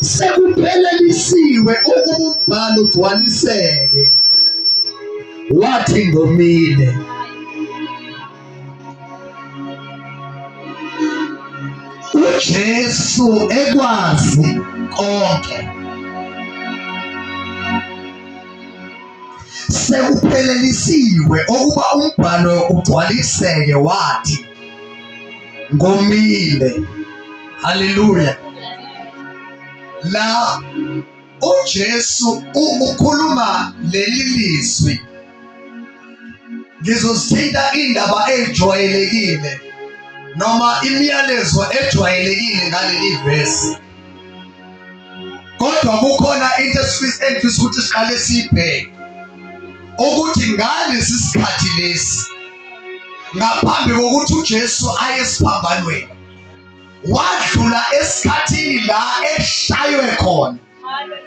sekuphelelisiwe ukuba umbhalo ugcwaliseke wathi ngomile uJesu ekwazi konke sekuphelelisiwe ukuba umbhalo ugcwaliseke wathi ngomile. Haleluya! La uJesu ukhuluma leli lizwi, ngizozithinta indaba ejwayelekile noma imiyalezo ejwayelekile ngaleli vesi. kodwa kukhona into engifisa ukuthi siqale siyibheke ukuthi ngalesi sikhathi lesi ngaphambi kokuthi uJesu aye esiphambanweni wadlula esikhathini la eshaywe khona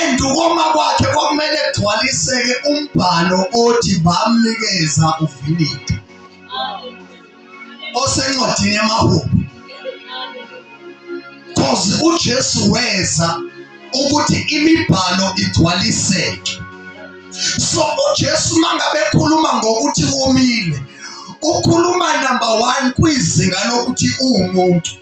endukoma kwakhe kwakumele kugcwaliseke umbhalo othi bamnikeza uvinidi osencwadini yamahubo cause uJesu weza ukuthi imibhalo igcwaliseke so uJesu mangabe ekhuluma ngokuthi womile ukhuluma number 1 kwizinga lokuthi uwumuntu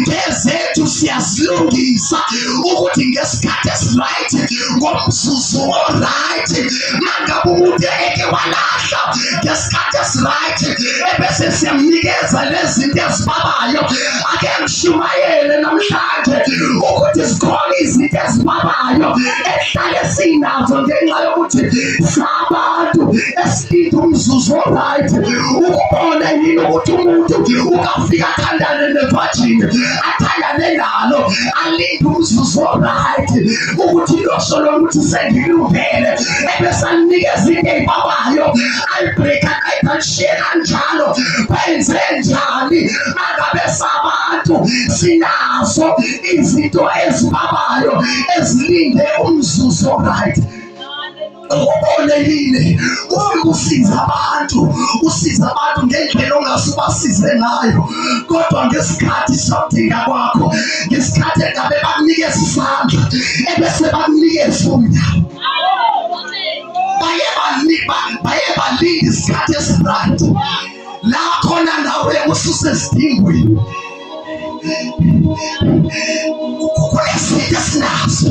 ngezethu siyazilungisa ukuthi ngesikhathi esiright ngomzuzu oright nangabe umuntu eke walahla ngesikhathi esiright ebese siyamnikeza lezinto ezibabayo ake ngishumayele namhlanje ukuthi zikhona izinto ezibabayo ehlale sinazo ngenxa yokuthi sabantu esilinde umzuzu oright ukubona yini ukuthi umuntu ukafika athandane ne-virgin athandane nalo alinde umzuzu oright ukuthi losolo ukuthi sengilungele ebesalinikeza into eyibabayo alibreaka ayibhanshiye kanjalo benze njani angabe sabantu sinazo izinto ezibabayo ezilinde umzuzu oright ubone yini konke kusiza abantu usiza abantu ngendlela ongase ubasize ngayo kodwa ngesikhathi sodinga kwakho ngesikhathi engabe bakunikeza isandla ebese bakunikeza unyawo baye balinda isikhathi esirandi la khona nawe ususesidingweni kunezinto esinazo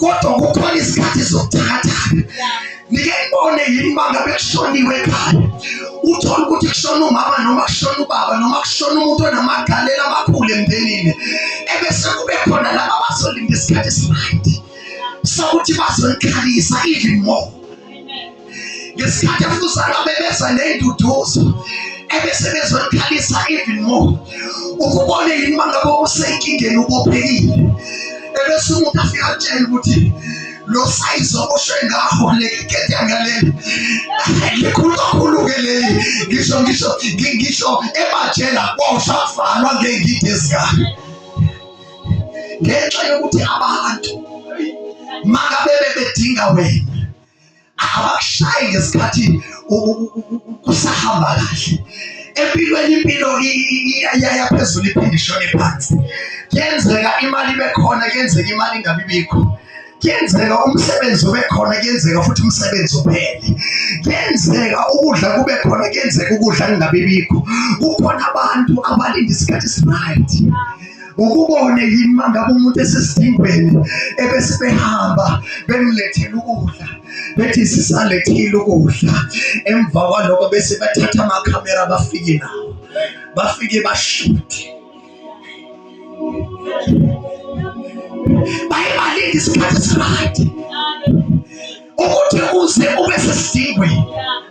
kodwa kukhona izikhathi zokuthakathaka nike ngibone yini uma ngabe kushoniwe ekhaya uthole ukuthi kushona umama noma kushona ubaba noma kushona umuntu onamagalela amakhulu emndenini ebese kube khona laba bazolinda isikhathi esibayide sokuthi bazolikhalisa even more ngesikhathi efuzana bebeza ney'nduduzo ebese bezokhalisa even more ukubone yini uma ngabe usenkingeni ubophekile ebese umuntu afika atshela ukuthi lo sayizi okusho ngaho leketanga leli likhulu kakhulu-ke leli ngisho ngisho ngisho ebajela kwawusavalwa ngey'ngidi ezingaka ngenxa yokuthi abantu makabe bebedinga wena abakushayi ngesikhathi kusahamba kahle empilweni impilo iyaya phezulu iphinde ishone phansi kuyenzeka imali bekhona kuyenzeka imali ingabi bikho kuyenzeka umsebenzi ube khona kuyenzeka futhi umsebenzi uphele kuyenzeka ukudla kube khona kuyenzeka ukudla kungabibikho kukhona abantu abalinda isikhathi esiright ukubone yini mangabe umuntu esesidingweni ebesibehamba bemlethela ukudla bethi sisalethile ukudla emva kwaloko bese bathatha amakhamera bafike nawo bafike bashute bayibalinde isikhathi esirayidi ukuthi uze ube sesidingweni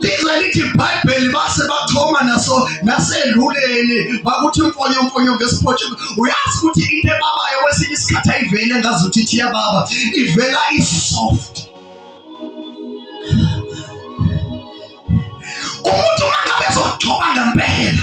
lize lithi ibhayibheli base bachoma naso naseluleni bakuthi mfonyo mfonyo ngesiphotshi uyazi ukuthi into ebabayo kwesinye isikhathi ayivele ngazi ukuthi ithi yababa ivela isoft umuntu uma ngabe ezogcoba ngempela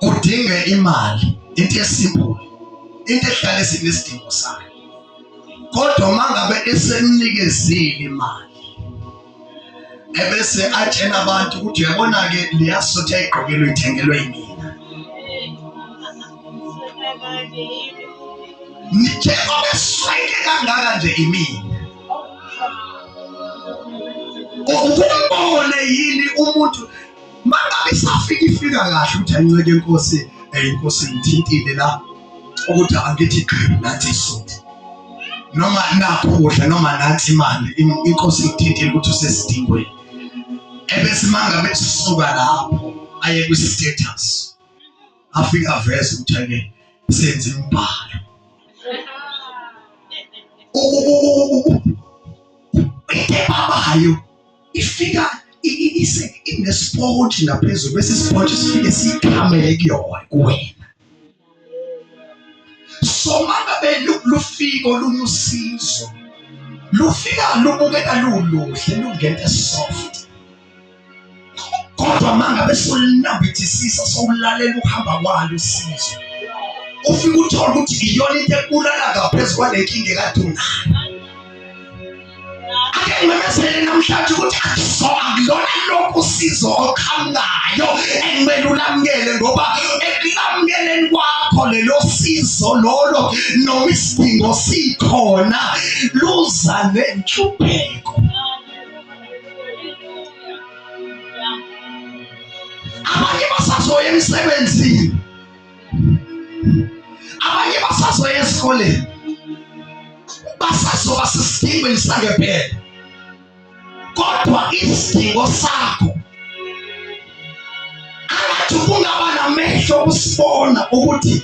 kudinge imali into esimbulu into ehlale sinesidingo sayo kodwa uma ngabe esemnikezile imali ebese atshena abantu ukuthi uyabona-ke liyasutha igqokelwe ithengelwe yimina njengoba esweke kangaka nje imina ukumbone yini umuntu mangabe isafika ifika kahle ukuthi ayinceke inkosi eyinkosi ngithintile la ukuthi angithi qhibu nathi isudi noma nakho ukudla noma nathi imali inkosi ngithintile ukuthi usesidingweni ebese mangabe sisuka lapho aye kwi-status afika aveze ukuthi ake senze imbhalo ubude babayo ifika ise inesport ngaphezulu bese sport sifike sikhamele kuyona kuwena so mangabe lufika olunye usizo lufika lubukeka luluhle lungente soft kodwa mangabe solinambithisisa sowulalela ukuhamba kwalo usizo ufike uthole ukuthi iyona into ekulala ngaphezu kwalenkinga ekade unayo ngimemezele namhlanje ukuthi akusoka kulona lokhu usizo oqhamukayo ekumele ulamukele ngoba ekulamukeleni kwakho lelo sizo lolo noma isidingo sikhona luza nenhlupheko abanye basazoya emsebenzini abanye basazoya esikoleni basazoba sisidingweni sangempela kodwa isidingo sakho angathi kungaba namehlo okusibona ukuthi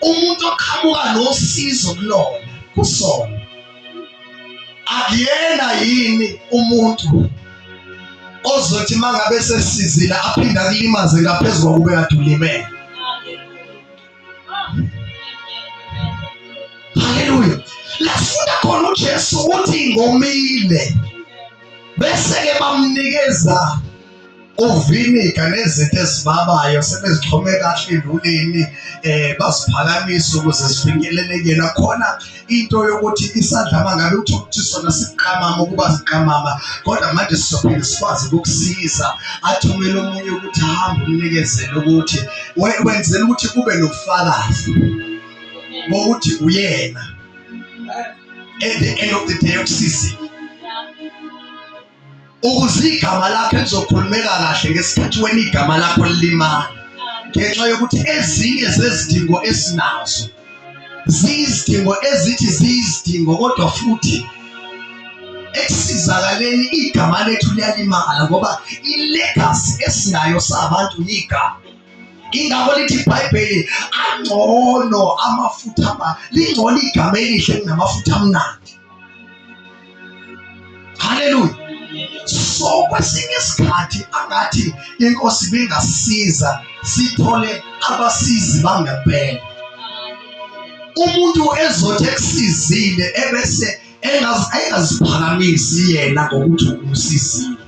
umuntu oqhamuka nosizo kulona kusona akuyena yini umuntu ozothi mangabe sesizile aphinde akulimaze ngaphezulu kokube kade ulimele haleluya lafunda khona ujesu ukuthi ngomile bese-ke bamnikeza uviniga nezinto ezibabayo sebezixhome kahle enduleni eh baziphakamisa ukuze zifinyeleleke nakhona into yokuthi isandla mangabe uthi ukuthi sona siqamama ukuba siqamama kodwa manje sizophinde sikwazi ukukusiza athumele omunye ukuthi hambe umnikezele ukuthi wenzela ukuthi kube nobufakazi bokuthi uyena at the end of the day ukusizile ukuze igama lakhe lizokhulumeka kahle ngesikhathi wena igama lakho lilimala ngenxa yokuthi ezinye zezidingo esinazo ziyizidingo ezithi ziyizidingo kodwa futhi esizakaleni igama lethu liyalimala ngoba ilegacy esinayo sabantu yigama ingakho lithi ibhayibheli angcono amafutha lingcono igama elihle kunamafutha amnandi haleluya so kwesinye isikhathi angathi inkosi bingasiza sithole abasizi bangempela umuntu ezothi ekusizile ebese engaziphakamisi yena ngokuthi umsizile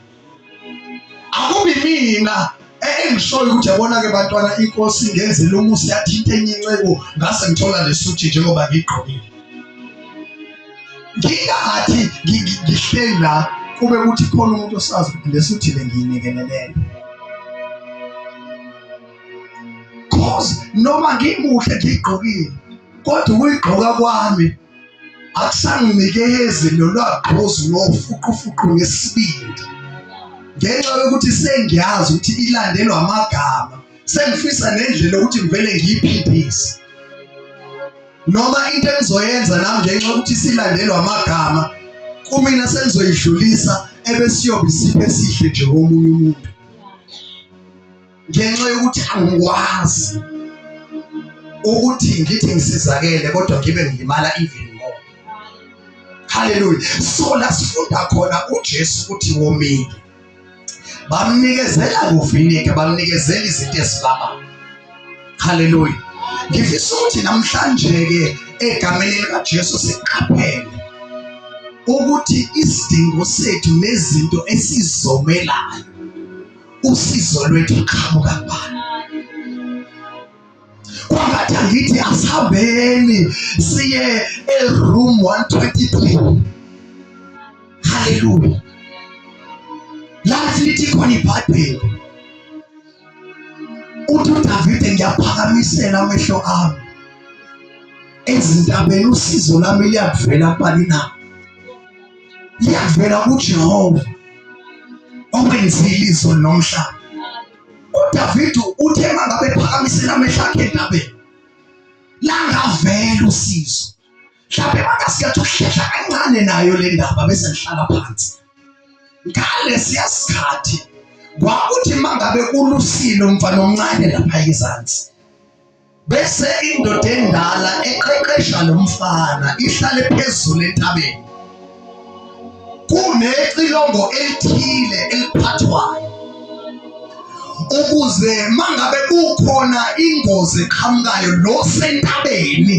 akubi mina engishoyo ukuthi yabona-ke bantwana inkosi ingenzela umusa yathi into enye inceku ngase ngithola lesuthi njengoba ngigqokile ngingathi ngihleli la kube kuthi khona umuntu osazi ukuthi lesuthi le ngiyinikelelele cause noma ngimuhle ngiyigqokile kodwa ukuyigqoka kwami akusanginikezi nolwagqozi lofuqufuqu ngesibindi ngenxa yokuthi sengiyazi ukuthi ilandelwa amagama sengifisa nendlela ukuthi ngivele ngiyiphindise noma into engizoyenza nami ngenxa yokuthi silandelwa amagama kumina sengizoyidlulisa ebesiyobe isiphe esihle nje komunye umuntu ngenxa yokuthi angikwazi ukuthi ngithi ngisizakele kodwa ngibe ngilimala even more haleluya so la sifunda khona uJesu ukuthi womile bamnikezela kuvinike bamnikezela izinto esilama haleluya ngifisa ukuthi namhlanje ke egameni likaJesu siqaphele ukuthi isidingo sethu nezinto esizomelayo usizo lwethu luqhamuka kubani kwangathi angithi asihambeni siye eroom 123 haleluya lathi lithi khona ibhayibheli uthi udavide ngiyaphakamisela amehlo ami ezintabeni usizo lami liyakuvela kubani na yavela kuJehova okwenzile izwe nomhlaba. UDavid uthe mangabe phakamisela amehlo akhe endabeni langavela usizo. Mhlawumbe bangasiyathi ukuhlehla kancane nayo le ndaba bese ngihlala phansi. Ngalesiya sikhathi kwakuthi mangabe kulusile umfana omncane lapha ezansi Bese indoda endala eqeqesha lo mfana ihlale phezulu entabeni. Kunecilongo elithile eliphathwayo ukuze mangabe kukhona ingozi eqhamukayo lo sentabeni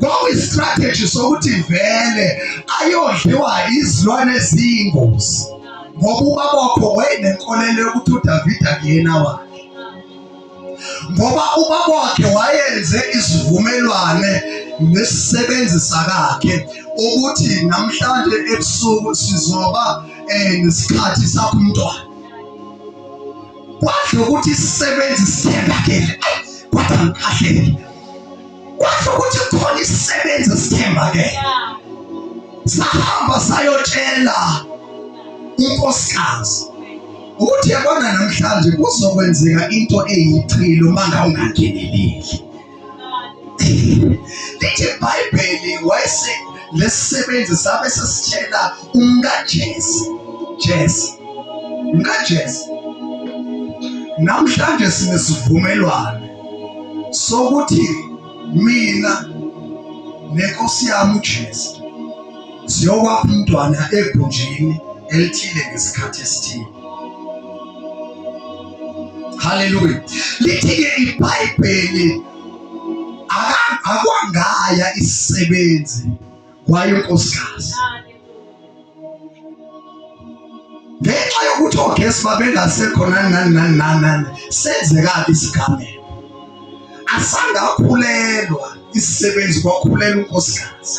kwakuyistrategy sokuthi vele ayodliwa izilwane eziyingozi ngoba ubabokho wayenenkolelo yokuthi udavida kuyena wakhe ngoba ubaba wakhe wayenze isivumelwane nesisebenzi sakakhe ukuthi namhlanje ebusuku sizoba eh nesikhathi sakho umntwana kwadla ukuthi isisebenzi sithembakele kwathi ngikhahlele kwasho ukuthi khona isisebenzi sithemba ke sahamba sayotshela unkosikazi ukuthi yabona namhlanje kuzokwenzeka into eyichilo uma ngawungangeneleli lithi ibhayibheli wayese lesisebenzi sabe sesitshela umkajesi jesi umkajesi namhlanje sinesivumelwano sokuthi mina nenkosi yami uJesu siyokwapha umntwana egunjini elithile ngesikhathi esithile haleluya lithi-ke ibhayibheli akwangaya isisebenzi kwaye unkosikazi ngenxa yokuthi ogesi babengasekho nani nani nani nani nani senzekaphi isigameko asangakhulelwa isisebenzi kwakhulelwa unkosikazi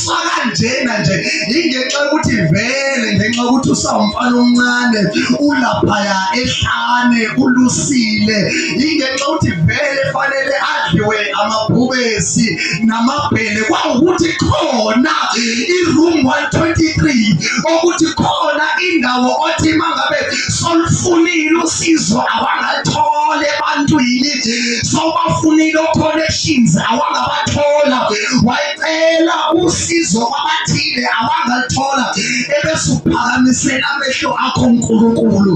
sakanjena nje ingenxa yokuthi vele ngenxa yokuthi usawumfana omncane ulaphaya ehlane ulusile ingenxa yokuthi vele fanele adliwe amabhubesi namabhele kwawukuthi khona i-room 123 okuthi khona indawo othi mangabe solufunile usizo awangathola ebantwini sobafunile o-connections awangabathola cela usizo kwabathile abangalithola ebesuphakamisela amehlo akho nkulunkulu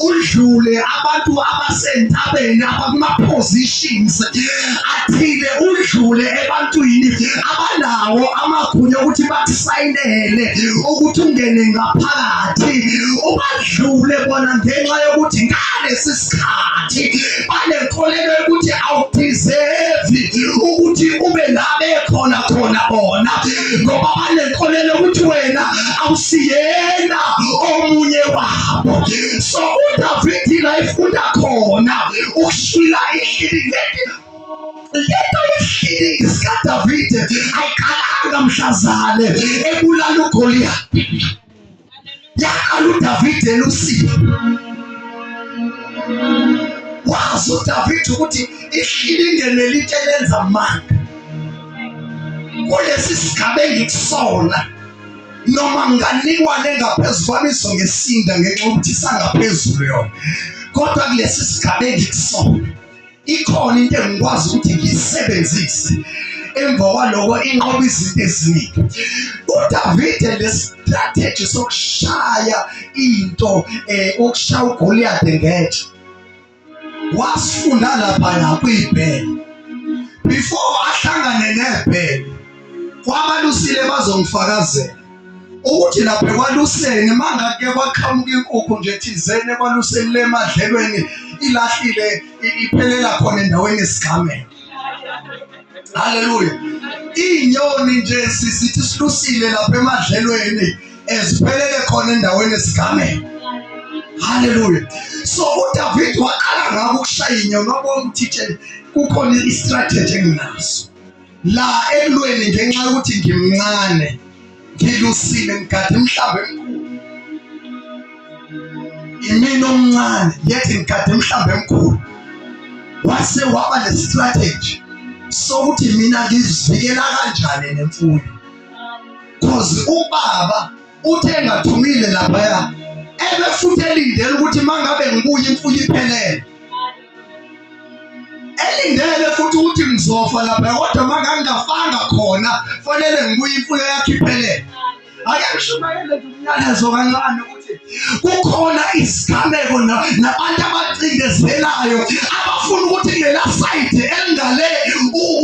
udlule abantu abasentabeni abakuma-positions athile udlule ebantwini abanawo amagunya okuthi bakusayinele ukuthi ungene ngaphakathi ubadlule bona ngenxa yokuthi ngalesi sikhathi banenkolelo yokuthi awudeserve ukuthi ube la bekhona khona bona ngoba banenkolelo ukuthi wena awusiyena omunye wabo so udavidi la ifunda khona ukushila ihlili leti lento yehlili sikadavide ayiqalanga mhlazane ebulala ugoliyati Yaqala uDavid elusiwe. Wazi uDavid ukuthi ihlilingene litshe lenza amanga. Kulesi sigaba engikusona noma nginganikwa nengaphezu kwami izongesinda ngenxa yokuthi isangaphezulu yona kodwa kulesi sigaba engikusona ikhona into engikwazi ukuthi ngiyisebenzise emva kwaloko inqoba izinto eziningi udavide lestrategy sokushaya into eh ukushaya ugoliyade ngetshe wasifunda laphaya kuyibhele before ahlangane nebhele kwabalusile bazongifakazela ukuthi lapha ekwaluseni mangake kwaqhamuka inkukhu nje thizeni ekwaluseni le madlelweni ilahlile iphelela khona endaweni yesigameko haleluya iy'nyoni nje sizithi silusile lapha emadlelweni eziphelele khona endaweni yesigameko haleluya so udavid waqala ngako ukushaya inyoni wabona ukuthi kukhona i-strategy enginaso la ekulweni ngenxa yokuthi ngimncane ngilusile ngigade mhlawumbe emkhulu imina omncane yet ngigade mhlawumbe emkhulu wase waba nestrategy sokuthi mina ngizivikela kanjani nemfuyo cause ubaba uthe ngathumile lapha ya ebe futhi elindele ukuthi mangabe ngibuye imfuyo iphelele elindele futhi ukuthi ngizofa lapha kodwa makangingafanga khona fanele ngibuye imfuyo yakhiphelele ake ngishumayele nje umyalezo kancane ukuthi kukhona izigameko nabantu abacindezelayo abafuna ukuthi lela sayidi elingale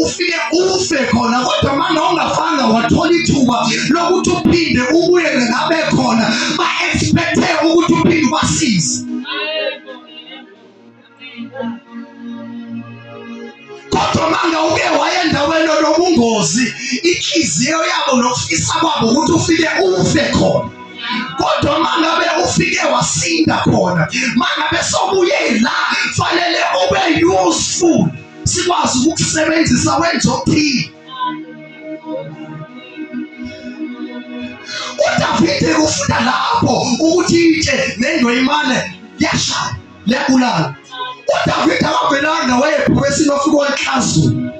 ufike ufe khona kodwa manje ongafanga wathola ithuba lokuthi uphinde ubuye ngabe khona ba-expecte ukuthi uphinde ubasize kodwa manga uke waya endaweni onobungozi inhliziyo yabo nokufisa kwabo ukuthi ufike ufe khona kodwa mangabe ufike wasinda khona mangabe sobuye la fanele ube useful sikwazi ukukusebenzisa wenza okuthile uDavide ufunda lapho ukuthi itshe nendweyimane yashaya yabulala uDavide akavelanga wayephowesini wafika wanhlazula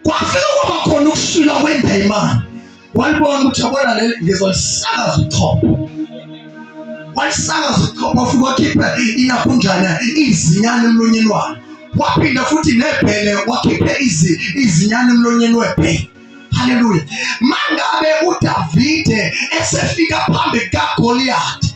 kwafika kwaba khona ukushila kwendayimane walibona ukuthi yabona le ngizolisakaza uchopho walisakaza uchopho futhi wakhipha inakunjana izinyane emlonyeni walo waphinda futhi nebhele wakhiphe izinyane emlonyeni webhele haleluya mangabe udavide esefika phambi kagoliyati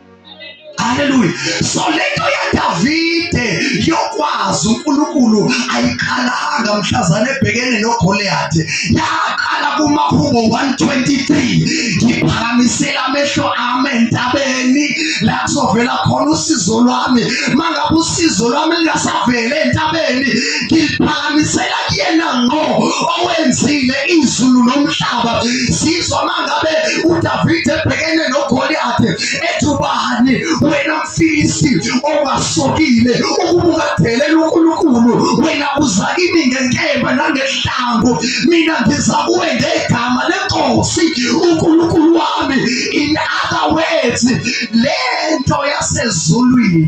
Haleluya. So lento yaDavide yokwazi uNkulunkulu ayikhalanga mhlazane ebhekene noGoliathi. Yaqala kumahubo 123. Ngiphakamisela amehlo ami entabeni la kuzovela khona usizo lwami. Mangabe usizo lwami lingasavele entabeni, ngiphakamisela kuyena ngqo owenzile izulu nomhlaba. Sizwa mangabe uDavide ebhekene noGoliathi Goliathi ethi ubani wena mfilisti ongasokile ukubuka delela uNkulunkulu wena uza kimi ngenkemba nangehlambu mina ngiza kuwe ngegama lenkosi uNkulunkulu wami in other words lento yasezulwini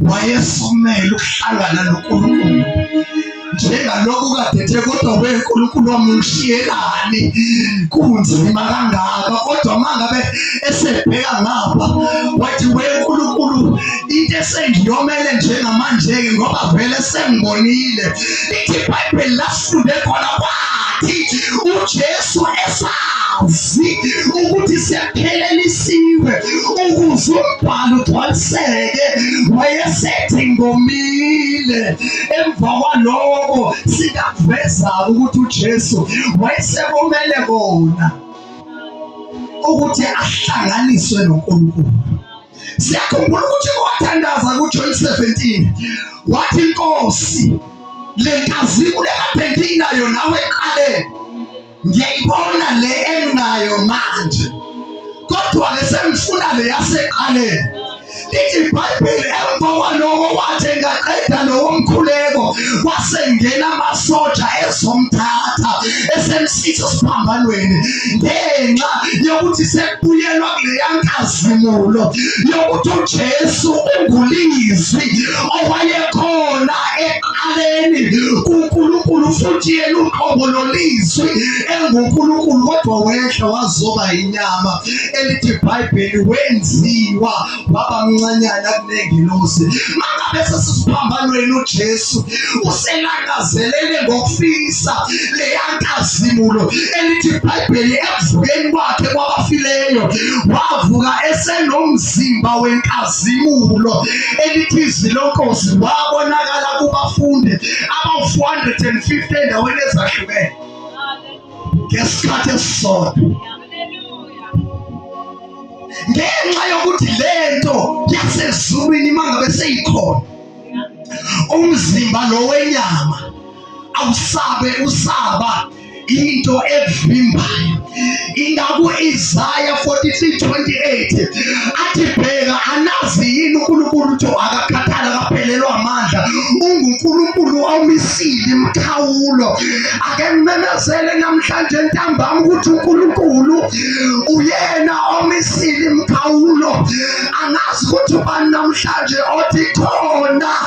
wayefumele ukuhlangana noNkulunkulu njengalokhu kadethe kodwa weNkulunkulu wamungishiyelani kunzima kangaka kodwa mangabe esebheka ngapha wathi weNkulunkulu into esengiyomele njengamanje-ke ngoba vele sengibonile ithi ibhayibheli lasifunde khona kwathi ujesu esazi ukuthi akhelelisiwe ukuze umbhalo ugcwaliseke wayesethi ngomile emva kwaloko sikakuveza ukuthi uJesu wayesekomele kona ukuthi ahlanganiswe noNkulunkulu siyakhumbula ukuthi kwathandaza kuJohn 17 wathi inkosi le nkazimu lekaphendinayo nawe eqaleni ngiyayibona le enginayo manje kodwa ke sengifuna le yaseqaleni lithi ibhayibheli emva kwaloko wathi engaqeda lowo mkhuleko wasengena amasoja ezomthatha esemsitha esiphambanweni ngenxa yokuthi sekubuyelwa kuleya nkazimulo yokuthi ujesu ungulizwi owayekhona emhlabeni kuNkulunkulu futhi yena uqobo lolizwi enguNkulunkulu kodwa wehla wazoba inyama elithi ibhayibheli wenziwa waba mncanyana kunengilosi mangabe sesisiphambanweni ujesu uselangazelele ngokufisa leyankazimulo elithi ibhayibheli ekuvukeni kwakhe kwabafileyo wavuka esenomzimba wenkazi zimulo elithizi lonkosi wabonakala kubafundi abawu-450 endaweni ezahlukene ngesikhathi esisodwa ngenxa yokuthi le nto yasezulwini uma ngabe seyikhona umzimba lo wenyama awusabe usaba into evimbayo ingaku Isaya 43:28 athi bheka anazi yini uNkulunkulu uthi akakhathala akaphelelwa amandla unguNkulunkulu omisile imkhawulo ake ngimemezele namhlanje ntambama ukuthi uNkulunkulu uyena omisile imkhawulo angazi ukuthi ubani namhlanje othi khona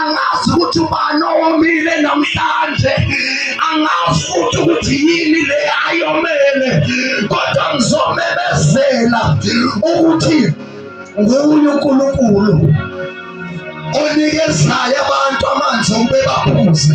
angazi ukuthi ubani owomile namhlanje angazi futhi ukuthi yini le ayomele kodwa ngizomemezela ukuthi nguye unkulunkulu onikezayo abantu amanzi ukube baphuze